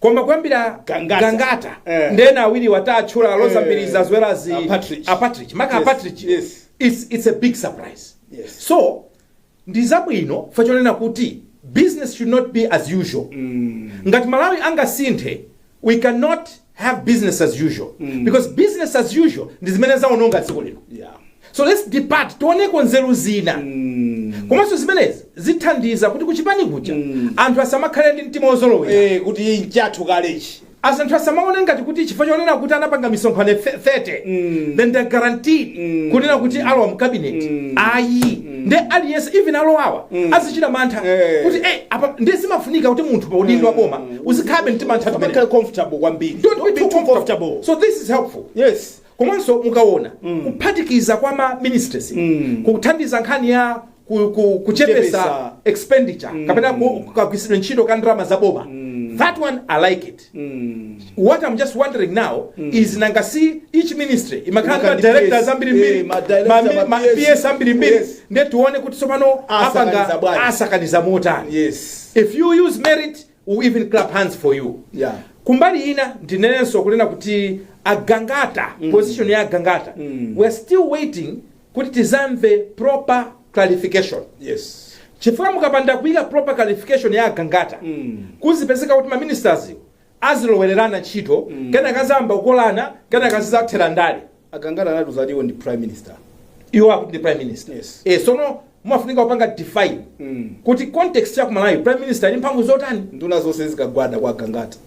koma kuyambira Gangata. Gangata Eh. ndi ena awiriwa tatchula a Roza Eh. Mbilizi as well as A Partridge. a Partridge. maka a Yes, Partridge. yes. It's, it's a big surprise Yes. so ndi zabwino fa chonena kuti business should not be as usual ngati Malawi angasinthe we cannot have business as usual because business as usual ndi zimene zaononga dziko lino Yeah. So let's depart tioneko nzeru zina komanso zimenezi zithandiza kuti kuchipani kuja anthu asamakhale ndi mtima wozolowera Eh, kuti nchathu kalechi as anthu asamaone ngati kuti chifukwa chonena kuti anapanga misonkhano fe- 30 then they're guaranteed kunena kuti alowa mu cabinet ayi nde aliyense even alowawa azichita mantha Eh. kuti eh, apa nde zimafunika kuti munthu pa udindo wa boma uzikhalabe mtima anthu amakhala comfortable kwambiri Don't be too comfortable. So this is helpful. yes Komanso mukaona kuphatikiza kwa ma ministries kuthandiza nkhani ya ku, ku, kuchepesa Kuchepesa. expenditure kapena ku- kagwiritsidwe ntchito ka ndalama za boma that one i like it what i'm just wondering now is nanga si each ministry imakhala ndi ma Imakhala ndi directors PS, ambiri mbiri eh, ma director, ma mi- ma ma PS, PS ambiri mbiri yes. nde tione kuti tsopano Asakaniza apanga bwanji. asakaniza motani yes if you use merit we even clap hands for you Yeah. kumbali ina ndinenenso kunena kuti a Gangata position ya a Gangata we're still waiting kuti tizamve proper clarification yes chifukwa mukapanda kuika proper clarification ya a Gangata kuzipezeka kuti maministers azilowererana ntchito kena kazayamba kukolana kena kazizathera ndale A Gangata anatiuza ati iwo ndi prime minister. Iwo akuti ndi prime minister. Yes. Eh sono mumafunika kupanga define Mm. kuti context ya ku Malawi prime minister ali ndi mphamvu zotani? Nduna zonse zizikagwada kwa Gangata.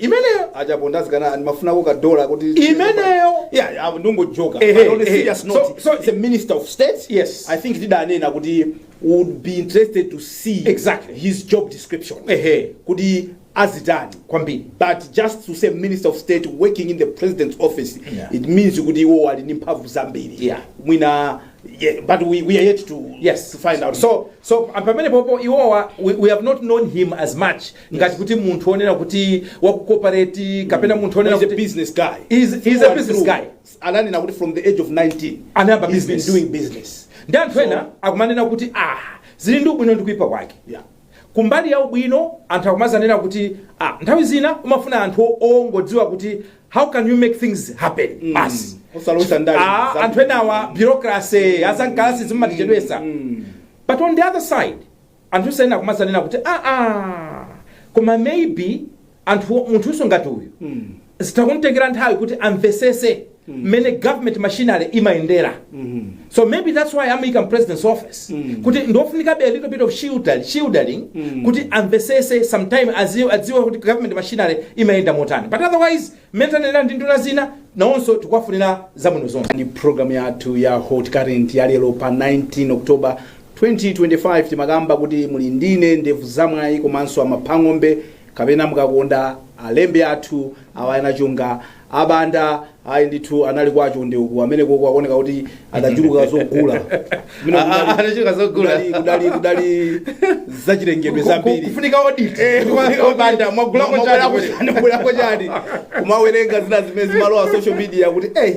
Imeneyo a Chaponda azikana ndimafunako ka dollar kuti imeneyo Yeah, yeah, ndungo joker. Eh, But eh, on a eh. serious note, So- so- it's a minister of state. Yes. I think tidanena kuti would be interested to see Exactly. his job description. Ehe. Kuti azitani kwambiri but just to say minister of state working in the president's office Yeah. it means kuti iwo ali ndi mphamvu zambiri Yeah. mwina yeah, but we, we are yet to, yes to find out so so pamene popo iwowa we we have not known him as much ngati kuti munthu onena kuti wakukopareti kapena munthu onena he's a kuti business guy He's- he's a business guy. ananena kuti from the age of 19 Anayamba he's been business. doing business ndi anthu ena akumanena kuti ah zili ndi ubwino ndi kuipa kwake Yeah. Kumbali ya ubwino anthu akumazanena kuti ah nthawi zina umafuna anthu ongodziwa kuti how can you make things happen basi Osalowesa ndale Ah, za- anthu enawa bureaucracy azamkalasi zimatichedwesa but on the other side anthu ena akumazanena kuti aa koma maybe anthu munthunso ngati uyu zitha kumutengera nthawi kuti amvesese mmene government machinery imayendera so maybe that's why amuyika mu president's office kuti ndiofunikabe a little bit of shielding, shielding kuti amvesese sometime aziwe, adziwe kuti government machinery imayenda motani but otherwise mmene tanenera ndi nduna zina nawonso tikuwafunira zabwino zonse ndi programu yathu ya hot current ya lero pa 19 october 2025 timakamba kuti muli ndine ndevu zamwayi komanso a Maphang'ombe kapena mukakonda alembi athu awa ena chonga a Banda ayi ndithu anali kwa chonde uku kumene koko akuoneka kuti adachuluka zogula Mwina Ah, ah, kudali- adachuluka zogula. kudali- kudali kudali zachilengedwe Ku- ku- zambiri kufunika audit Eh, Kufunika a Banda mwagulako chani mwagulako chani kumawerenga zina zimene zimalowa pa social media kuti eh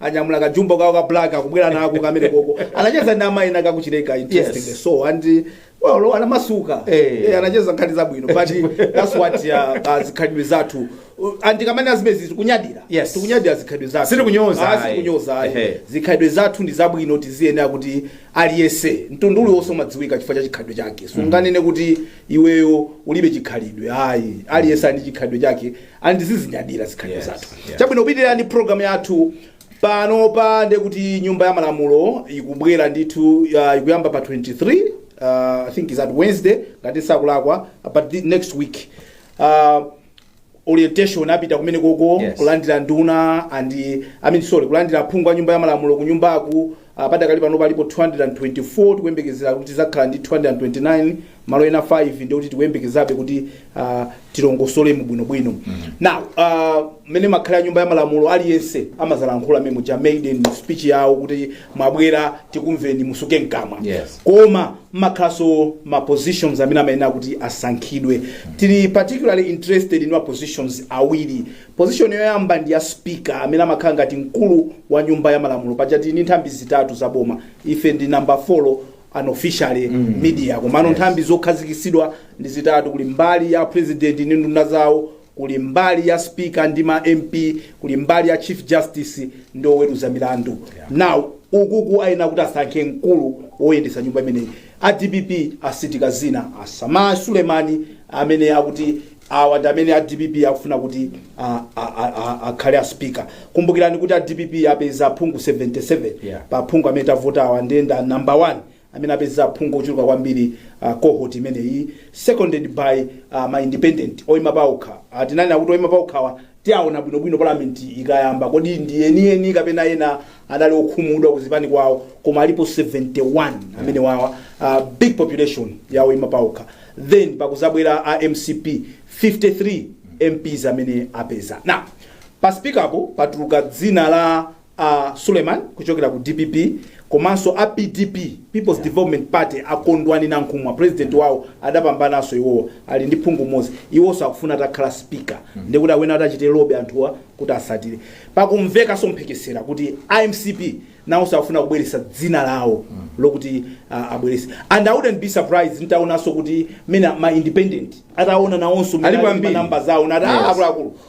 anyamula ka jumbo kawo ka black akubwera nako kamene koko anacheza ndi amayi ena a ku Chileka interesting Yes. so and well anamasuka Eh. eh, anacheza nkhani zabwino but that's what uh, zikhalidwe zathu Uh, and kamene azimezi tikunyadira Yes. tikunyadira zikhalidwe zathu Sitikunyoza, Ah, ayi. sitikunyoza ayi. Ehe. zikhalidwe zathu ndi zabwino tiziyenena kuti aliyese mtundu uliwonse umadziwika chifukwa cha chikhalidwe chake sunganene kuti iweyo ulibe chikhalidwe ayi aliyese ali ndi chikhalidwe chake and tizizinyadira zikhalidwe Yes, zathu yeah. chabwino tipitirire ndi program yathu panopa nde kuti nyumba ya malamulo ikubwera ndithu uh, ikuyamba pa 23 uh, i think it's a wednesday ngati sakulakwa but next week uh, orientation apita kumene koko Yes. kulandira nduna and i mean sorry kulandira phungu wa nyumba ya malamulo ku nyumbaku Ah, padakali pano palipo 224 tikuyembekezera kuti tidzakhala ndi 229 malo ena 5 ndi kuti tikuyembekezabe kuti ah, tilongosolemo bwinobwino now ah, mmene imakhalira nyumba ya malamulo aliyense amazalankhula memo cha maiden speech yawo kuti mwabwera tikumveni musuke mkamwa Yes. koma mukhalanso ma positions amene amayenera kuti asankhidwe tili particularly interested in ma positions awiri Position yoyamba ndi ya speaker amene amakhala ngati mkulu wa nyumba ya malamulo paja tili ndi nthambi zitatu za boma ife ndi number 4 unofficially media komano nthambi zokhazikisidwa ndi zitatu kuli mbali ya president ndi nduna zawo kuli mbali ya speaker ndi ma mp kuli mbali ya chief justice ndi oweruza milandu now ukuku ayenera kuti asankhe mkulu woyendetsa nyumba imeneyi a dpp atsindika dzina la Sameer Suleman amene akuti Awa ndi amene a dpp akufuna kuti a- a- a- a- akhale a speaker kumbukirani kuti a dpp apeza aphungu 77 Yeah. pa aphungu amene tavotawa ndiye ndi a number 1 amene apeza aphungu ochuluka kwambiri uh, cohort imeneyi seconded by uh, ma independent oyima paokha uh, tinanena kuti oyima paokhawa Tiawona bwino bwino parliament ikayamba kodi ndi eni eni kapena ena adali okhumudwa kuzipani kwawo koma alipo 71 amenewawa uh, big population ya oyima paokha then pakuzabwera a mcp 53 mps amene apeza now pa speaker apo patuluka dzina la a Suleman kuchokera ku dpp komanso a pdp People's Development Party a Kondwani Nankhumwa president wawo adapambananso iwowa ali ndi phungu mmodzi iwonso akufuna atakhala speaker ndiye kuti awone atachita lobby anthuwa kuti awatsatire pakumvekanso mphekesera kuti a mcp nawonso akufuna kubweretsa dzina lawo lokuti ah, abweretse and i wouldn't be surprised nitaonanso kuti mwina ma independent ataona nawonso Alipo ambiri. manamba zawo ndi Yes. akuluakulu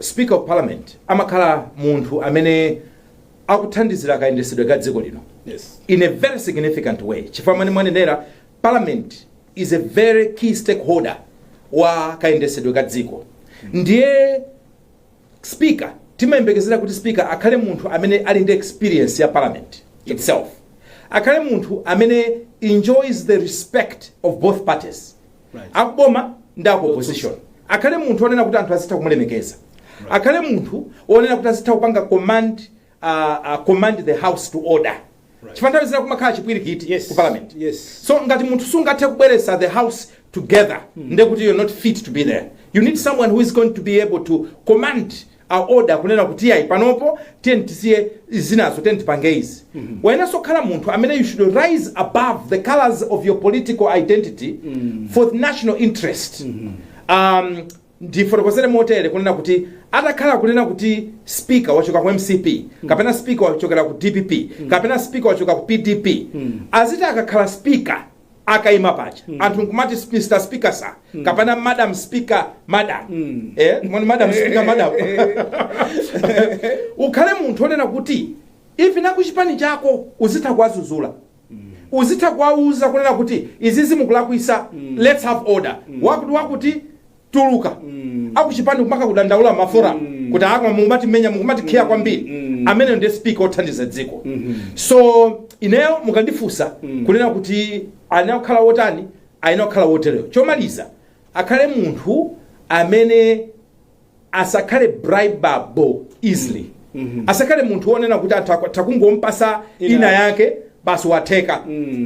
Speaker of Parliament amakhala munthu amene akuthandizira kayendesedwe ka dziko lino Yes. in a very significant way chifukwa mmene mwanenera parliament is a very key stakeholder wa kayendesedwe ka dziko ndiye speaker timayembekezera kuti speaker akhale munthu amene ali ndi experience ya parliament itself akhale munthu amene enjoys the respect of both parties akuboma ndi aku opposition akhale munthu onena kuti anthu azitha kumulemekeza akhale munthu onena kuti azitha kupanga command uh, uh, command the house to order chifukwa nthawi zina kumakhala chipwirikiti Yes. ku parliament Yes. so ngati munthu sungathe kubweretsa the house together nde kuti you're not fit to be there you need someone who is going to be able to command command order kunena kuti iyayi panopo tiyeni tisiye zinazo tiyeni tipange izi wayenaso kukhala munthu amene you should rise above the colors of your political identity for the national interest um, ndifotokozere motere kunena kuti atakhala kunena kuti speaker wachokera ku mcp kapena speaker wachokera ku dpp kapena speaker wachokera ku pdp azitha akakhala speaker akaima paja anthu nkumati mr speaker sir kapena madam speaker madam eh mwani madam speaker madam ukhale munthu onena kuti even nakuchipani chako uzitha kuwadzudzula uzitha kuwauza kunena kuti izizi mukulakwisa let's have order wakuti wakuti tuluka akuchipani kumaka kudandaula ma forum kuti aa mukumatimenya mukumatikhiya kwambiri ameneyo ndiye speaker othandiza dziko so ineyo mukandifunsa kunena kuti ayenera kukhala wotani ayenera kukhala wotereyo chomaliza akhale munthu amene asakhale bribable easily asakhale munthu wonena kuti anthu atangompasa Ina- ina yake basi watheka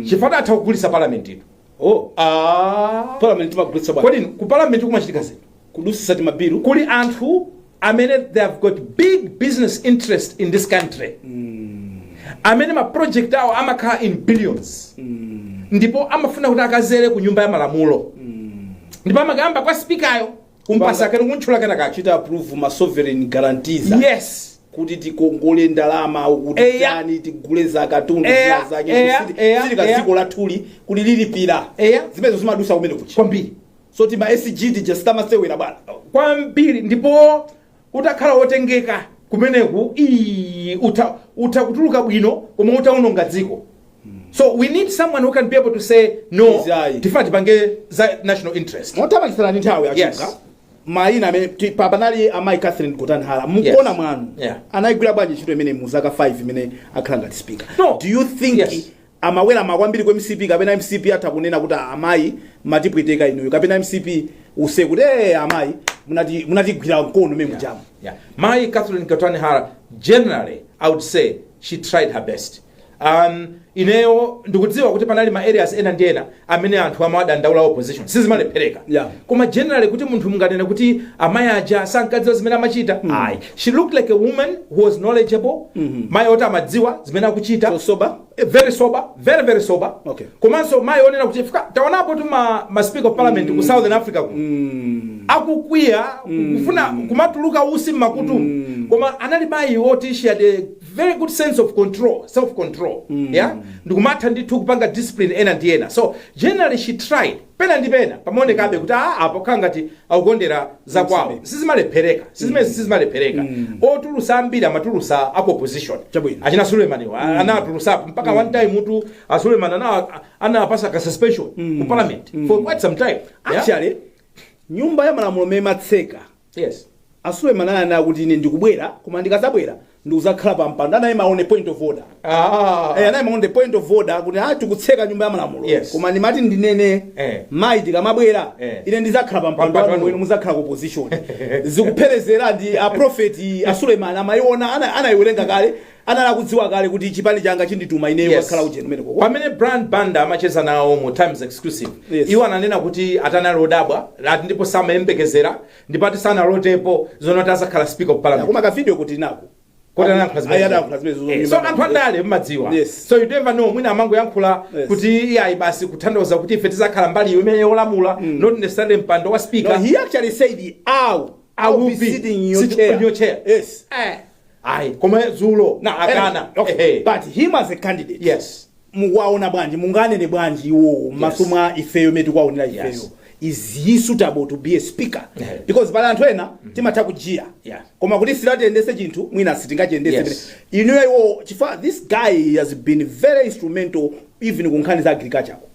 chifukwa atha kugulisa parliament ino oh Ah. parliament timagulitsa bwana kodi ku parliament kumachitika zinthu kudusisa timabilu kuli anthu amene they have got big business interest in this country amene ma project awo amakhala in billions ndipo amafuna kuti akadzere ku nyumba ya malamulo ndipo amakayamba kwa speaker yo kumpasa kena kumutchula kena akachita approve ma sovereign guarantees a- yes kuti tikongole ndalama Eya. kuti yani tigule za katundu Eya, zina zake eya, kuti eya, sili- sili eya. kadziko lathuli kuti lilipira Eya. zimenezo zimadusa kumenekuja kwambiri so tima sg tija sitimasewera bwana kwambiri ndipo utakhala wotengeka kumeneku ii, utha, utha kutuluka bwino koma utaononga dziko so we need someone who can be able to say no Yes, ayi. tifuna tipange za national interest pomalizira ndi nthawi atchula Yes. mayina amene ti- pa- panali amayi catherine gotani hara mukuona Yes. mwanu Yeah. anayigwira bwanji ntchito imene mu zaka 5 imene akhala ngati speaker No. do you think Yes. amaweramira kwambiri ku mcp kapena mcp atha kunena kuti aa amayi mmatipweteka inuyo kapena mcp iwuze kuti ee amayi munati- munatigwira mkono mmene mujamu Yeah. Mayi Catherine Gotani Hara, generally, I would say she tried her best. Um, ineyo ndikudziwa kuti panali ma areas ena ndi ena amene anthu amawadandaula opposition sizimalephereka Yeah. koma generally kuti munthu munganene kuti amayi aja sankadziwa zimene amachita ayi she looked like a woman who was knowledgeable mayi oti amadziwa zimene akuchita So sober? Eh, very sober very very sober Okay. komanso mayi onena kuti chifukwa taonapo tu ma, ma speaker of parliament ku southern africa ku akukwiya kufuna kumatuluka utsi mmakutu koma anali mayi oti she had a very good sense of control self control mm. yeah ndikumatha ndithu kupanga discipline ena ndi ena so generally she tried pena ndi pena pamaonekabe kuti a apo khala ngati akukondera za kwawo sizimalephereka sizimene sizimalephereka otulusa ambiri amatulusa aku opposition Chabwino. achina Suleiman mm. anatulusapo mpaka one time muti a Suleiman ana anawapasa ka suspension ku parliament for quite some time yeah? actually nyumba ya malamulo imene imatseka Yes. A Suleiman ananena kuti ine ndikubwera koma ndikazabwera ndikuzakhala pa mpando anayima on a point of order. Ah. Eh, anayima on a point of order kuti ah tikutseka nyumba ya malamulo. Yes. Koma ndimati ndinene Eh. mayi tikamabwera Eh. ine ndizakhala pa mpando Pampando. wanu inu muzakhala ku opposition. Zikupherezera ndi a prophet a Suleiman amayiona ana anayiwerenga kale anali akudziwa kale kuti chipani changa chinditumiza ineyo Yes. kukakhala ujeni umeneko pamene brian banda amacheza nawo mu times exclusive Yes. iwo ananena kuti ati anali odabwa ati ndipo samayembekezera ndipo ati sanalotepo zonena kuti azakhala speaker of parliament koma kavidiyo ka tinako Kodi anayankhula zimene- Ayi, anayankhula zimene zozonyima. Eh, so anthu andale mmadziwa Yes. so you never know mwina amangoyankhula Yes. kuti iyayi basi kutanthauza kuti ife tizakhala mbali iyo imene yolamula not necessarily mpando wa No, speaker he actually said, "No, I I'll will be be sitting in your sitting chair." in your chair. Yes. Eh. ayi koma dzulo anakana okay, Ehe. but him as a candidate yes mukuwaona bwanji munganene bwanji iwowo m'maso Yes. mwa ifeyo mmene tikuwaonera ifeyo Yes. is he suitable to be a speaker Yeah. because pali anthu ena timatha kujiya Yeah. koma kuti si titayendese chinthu mwina sitingachiyendese Yes. inuyo iwo chifukwa this guy has been very instrumental even ku nkhani za agriculture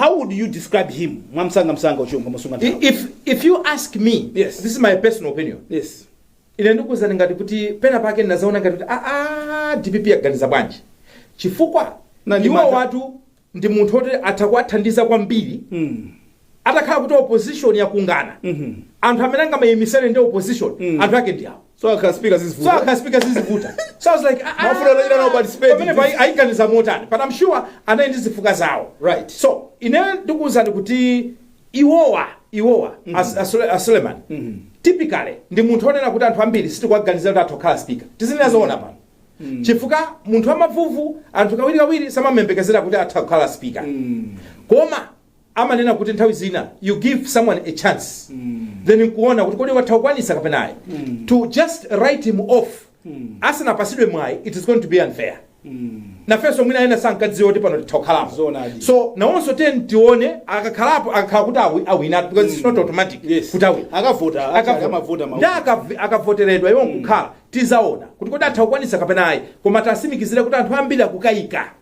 how would you describe him mwamsangamsanga chifukwa ndimasunga I- nthawi if, if you ask me Yes. this is my personal opinion yes ine ndikuwuzani ngati kuti pena pake ndinazaona ngati kuti aa dpp aganiza bwanji chifukwa Na iwo mantha- watu ndi munthu oti atha kuwathandiza kwambiri mm. atakhala kuti opposition yakangana Mhm. anthu amene angamayimisane ndi opposition Mm. anthu ake ndi awo So akakhala speaker So zizivuta. akakhala speaker zizivuta. So I was like, ah, Mafuta anachita nawo participate. Pamenepa aiganiza motani. But I'm sure anali ndi zifukwa zawo. Right. So ine ndikuwuzani kuti iwowa iwowa as- asule- asuleman typically ndi munthu onena kuti anthu ambiri sitikuwaganiza kuti atha kukhala speaker tizinena zoona pano chifukwa munthu amavuvu anthu kawirikawiri samamuyembekezera kuti atha kukhala speaker koma amanena kuti nthawi zina you give someone a chance then nkuona kuti kodi atha kukwanisa kapena ayi to just write him off asanapasidwe mwayi it is going to be unfair nafenso mwina ena sankadziwa kuti pano titha kukhalapo Zoonadi. so nawonso tiyeni tione akakhalapo akakhala kuti awi- awina because it's not automatic Yes. kuti awina akavota Akavota. akavota Ndi akav- akavoteredwa iwo nkukhala Tizaona kuti kodi atha kukwanitsa kapena ayi. Koma tasimikizire kuti anthu ambiri akukayika.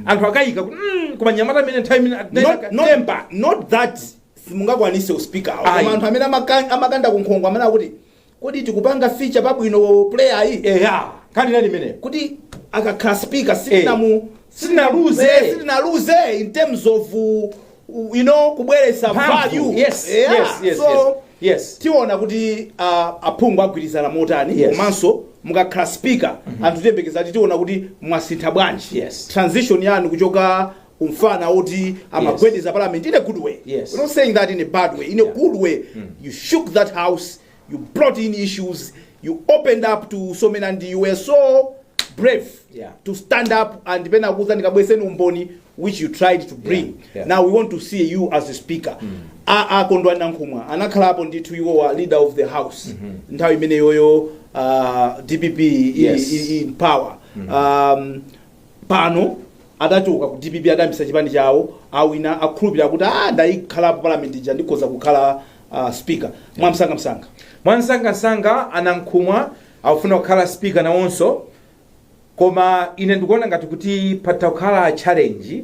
Anthu akayika kuti mm, koma mnyamata amene nthawi imene Not, not, temper. not that simungakwanise uspeaker Ayi. koma anthu amene amaka- amakanda kunkhongo amene akuti kodi tikupanga feature pabwino player yi Eya, kandinani mmene. kuti akakhala speaker sitinamu sitinaluze. sitinaluze in terms of uh, u- you know kubweretsa. value Yes, Yeah. yes, yes, so yes. Yes. tiona kuti uh, aphungu agwirizana motani Yes. komanso mukakhala speaker anthu tiyembekeza kuti tiona kuti mwasintha bwanji Yes. transition yanu kuchoka umfana oti amagwedeza parliament in a good way Yes. we're not saying that in a bad way in a Yeah. good way you shook that house you brought in issues you opened up to so many and you were so brave Yeah. to stand up and kunena kuti ndikabweseni umboni which you tried to bring Yeah, yeah. now we want to see you as a speaker a Kondwani Nankhumwa anakhalapo ndithu iwowa leader of the house nthawi imeneyoyo uh, dpp i- Yes. i- in power um, pano adachoka ku dpp adayambisa chipani chawo awina akhulupirira kuti ah ndaikhala pa parliament ija ndikhoza kukhala uh, speaker mwamsangamsanga mwamsangamsanga a Nankhumwa akufuna kukhala speaker nawonso koma ine ndikuona ngati kuti patha kukhala challenge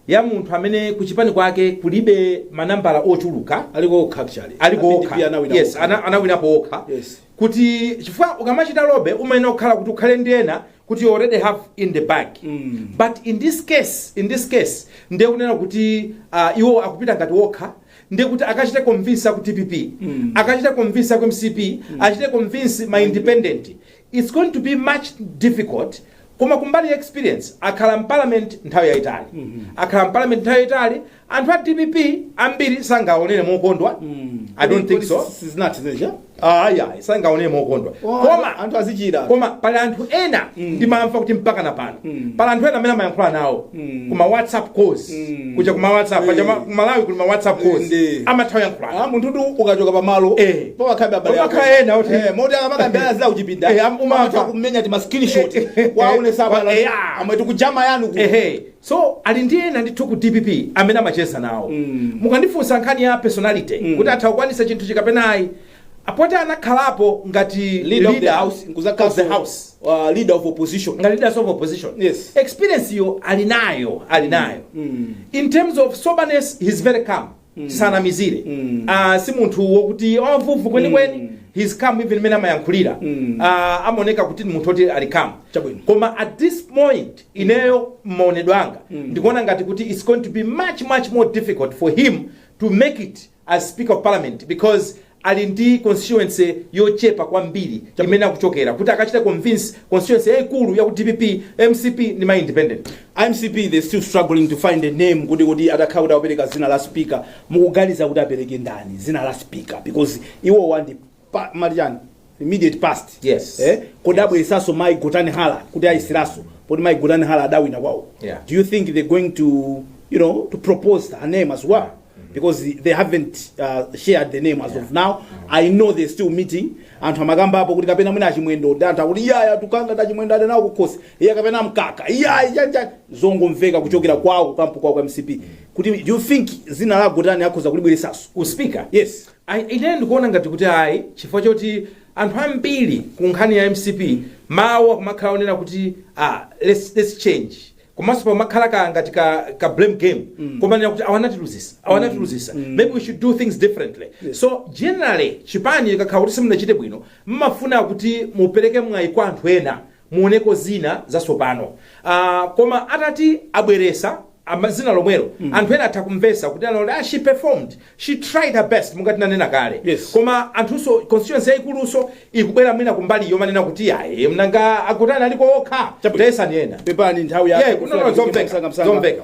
ya munthu amene kuchipani kwake kulibe manambala ochuluka aliko okha actually aliko A PDP okha anawina yes okha. ana- anawinapo okha Yes. kuti chifukwa ukamachita lobby umayenera kukhala kuti ukhale ndi ena kuti you already have in the bag Mm. but in this case in this case ndiye kunena kuti uh, iwo akupita ngati wokha ndiye kuti akachite convince aku dpp akachite convince aku mcp achite convince ma independent its going to be much difficult koma kumbali ya experience akhala mparliament nthawi yayitali akhala mparliament nthawi yayitali anthu a dpp ambiri sangaonere mokondwa i don't think so sizinati zimeneja ayi ayi sangaone mokondwa Oh, koma anthu- anthu azichira koma pali anthu ena ndimamva kuti mpaka na pano pali anthu ena amene amayankhula nawo kuma whatsapp calls kuja kuma whatsapp paja ma- ku malawi kuli ma whatsapp calls Ndi. amatha kuyankhulana Ah, munthu tu ukachoka pamalo Eh. pamakhalabe abale Pamakhala ako. ena oti- Eh, moti akamakambirana za kuchipinda Eh, am- umamva. amatha kumenya tima screenshot Eh, eh, eh. kuwaonetsa Wa- abale eh, ah. amwe tikujama yanu ku ehe So ali ndi ena ndithu ku dpp amene amacheza nawo. Mukandifunsa nkhani ya personality kuti atha kukwanisa chinthuchi kapena ayi, poti anakhalapo ngati Leader of the leader house, nkuzakhaso, of the house, uh, leader of opposition. ngati leader of opposition Yes. experience-yo ali nayo ali nayo in terms of soberness he's very calm tisanamizire Mm. Ah, si munthu wokuti wovuta kwenikweni Mm. he's calm even mmene amayankhulira Mm. Ah, amaoneka kuti ni munthu oti ali calm Chabwino. koma at this point ineyo mmaonedwe anga ndikuona ngati kuti it's going to be much much more difficult for him to make it as speaker of parliament because ali ndi constituency yochepa kwambiri imene akuchokera kuti akachite convince constituency yaikulu ya ku dpp mcp ndi ma independent mcp they still struggling to find a name kuti kuti atakhala kuti akupereka zina la speaker mukuganiza kuti apereke ndani zina la speaker because iwowa ndi pa- marichani immediate past Yes. eh kodi abweresaso mai gotani hara kuti ayesereso poti mai gotani hara adawina kwawo Yeah. do you think they're going to you know to propose her name as well because they haven't uh, shared the name as of now i know they're still meeting anthu amakamba apo kuti kapena mwina achimwendo ndi anthu akuti iyayi tukanga ta chimwendo ali nawo kukhosi iye kapena mkaka iyayi chanja zongomveka kuchokera kwawo kukampu kwawo kwa mcp kuti do you think zina la gotani akhoza kulibweresaso uspika yes Ayi ine ndikuona ngati kuti ayi chifukwa choti anthu ambiri ku nkhani ya mcp mawu akumakhala onena kuti ah, let's, let's change komanso pamakhala ka ngati ka, ka blame game komanena kuti awa anatiluzisa awa anatiluzisa maybe we should do things differently so generally chipani chikakhala kuti simunachite bwino mmafuna kuti mupereke mwayi kwa anthu ena muoneko zina zasopano uh, koma atati abweresa ama- zina lomwelo mm. anthu ena atha kumvesa kuti onena kuti ah, she performed she tried her best mungati nanena kale Yes. koma anthunso constituency yayikuluso ikubwera mwina kumbali yomanena kuti ayi nanga a gotani aliko okha Chabwino. tayesaniko ena pepani nthawi Yeah, no, no, zomveka, zomveka.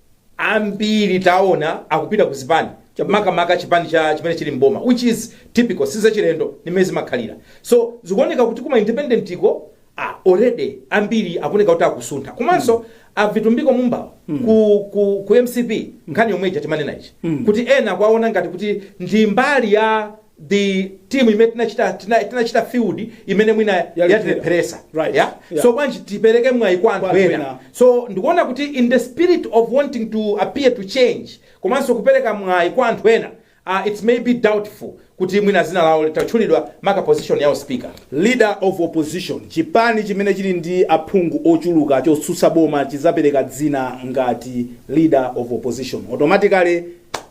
ambiri taona akupita ku zipani cha- makamaka chipani cha chimene chili mboma which is typical sizachilendo ndi mmene zimakhalira so zikuoneka kuti kuma independent ko ah, already ambiri akuoneka kuti akusuntha komanso avitumbiko mumba wo ku, ku, ku mcp nkhani yomwe ija timanena ija kuti ena akuwaona ngati kuti ndi mbali ya the team imene tinachita tina, tinachita field imene mwina Yalephera. yatilepheresa Right. yeah? Yeah. so bwanji tipereke mwayi kwa anthu anthu ena ena. so ndikuona kuti in the spirit of wanting to appear to change komanso kupereka mwayi kwa anthu ena uh, it may be doubtful kuti mwina zina lawo litatchulidwa maka position ya u speaker leader of opposition chipani chimene chili ndi aphungu ochuluka chotsutsa boma chizapereka dzina ngati leader of opposition automatically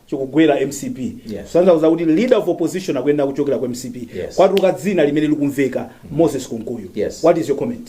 chikugwera mcp Yes. simufuna kuuzidwa kuti leader of opposition akuyenera kuchokera ku mcp Yes. kwatuluka dzina limene likumveka moses kunkuyu Yes. what is your comment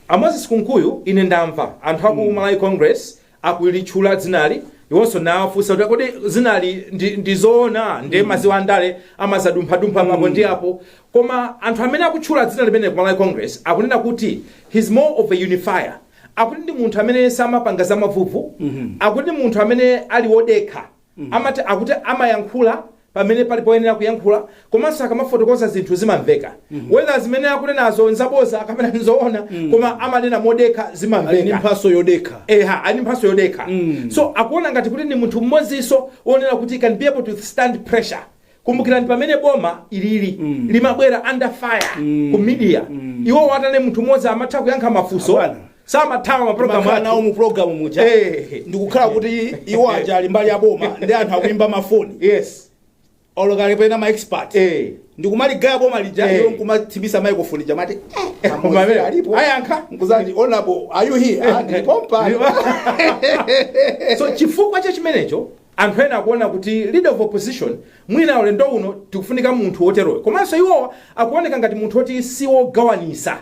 amoses kunkuyu ine ndamva anthu aku malawi congress akulitchula dzinali iwonso nawafunsa kuti kodi dzinali ndi- ndizoona nde mukuziwa andale amazadumphadumpha apo ndi apo koma anthu amene akutchula dzina limeneli ku malawi congress akunena kuti he's more of a unifier Akuti ndi munthu amene samapanga za mavuvu, akuti ndi munthu amene ali wodekha, amati, akuti amayankhula pamene pali poyenera kuyankhula komanso akamafotokoza zinthu zimamveka whether zimene akunenazo nzaboza kapena nzoona koma amanena modekha Ali ndi zimamveka. mphatso yodekha. Eha, ali ndi mphatso yodekha. So akuona ngati kuti ndi munthu mmodzinso wonena kuti can be able to stand pressure. kumbukirani pamene boma ilili limabwera under fire ku media iwo watane munthu mmodzi amatha kuyankha mafunso Abwana. samathawa maprogramu Makhala nawo anthu mu program muja Eh. ndikukhala kuti iwo aja ali mbali ya boma ndi anthu akuimba mafoni yes olo kapena ma expert eh ndikumaligaya boma lija Eh. iwo nkumathimitsa microphone ija amati Koma amene, ayankha. nkuzati honorable are you here Ah, ndili pompa so chifukwa cha chimenecho Anthu ena akuona kuti leader of opposition mwina ulendo uno tikufunika munthu woteroyo komanso iwowa akuoneka ngati munthu woti si wogawanisa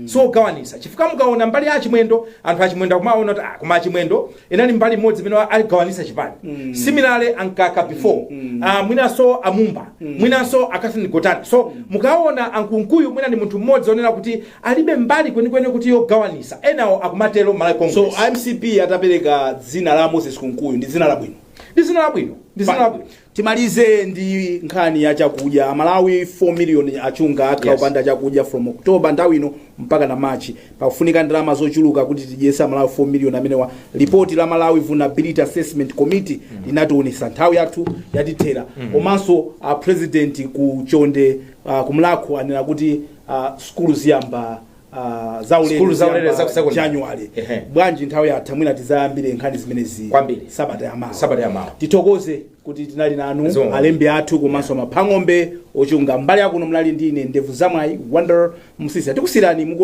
si wogawanisa chifukwa mukaona mbali ya a Chimwendo anthu a Chimwendo akumaona kuti ah, koma a Chimwendo inali mbali imodzi imene wa- aligawanisa chipani similarly a Mkaka before ah, mwinanso a Mumba mwinanso a Catherine Gotani so mukaona a Kunkuyu mwina ndi munthu mmodzi onena kuti alibe mbali kwenikweni kuti yogawanisa, enawo akumatero m'Malawi So Congress. a MCP atapereka dzina la Moses Kunkuyu ndi dzina labwino. Ndi dzina labwino, ndi dzina labwino. Timalize ndi nkhani ya chakudya. Amalawi 4 million a Chunga akhala Yes. opanda chakudya from October nthawi ino mpaka na March. Pakufunika ndalama zochuluka kuti tidyetse Amalawi 4 million amenewa. Lipoti la Malawi Vulnerability Assessment Committee linatiwonesa nthawi yathu yatithera. Komanso a president ku Chonde uh, ku Mulhako anena kuti uh, sukulu ziyamba uh, zaulere Sukulu zaulere ziyamba za ku secondary. January Ehe. bwanji nthawi yatha mwina tizayambire nkhani zimenezi Kwambiri. sabata yamawa Sabata yamawa. tithokoze kuti tinali nanu Zoona. alembi athu komanso maphang'ombe a Chunga mbali yakuno munali ndi ine Ndevu Zamwayi Wonder Msiska tikusiyirani muko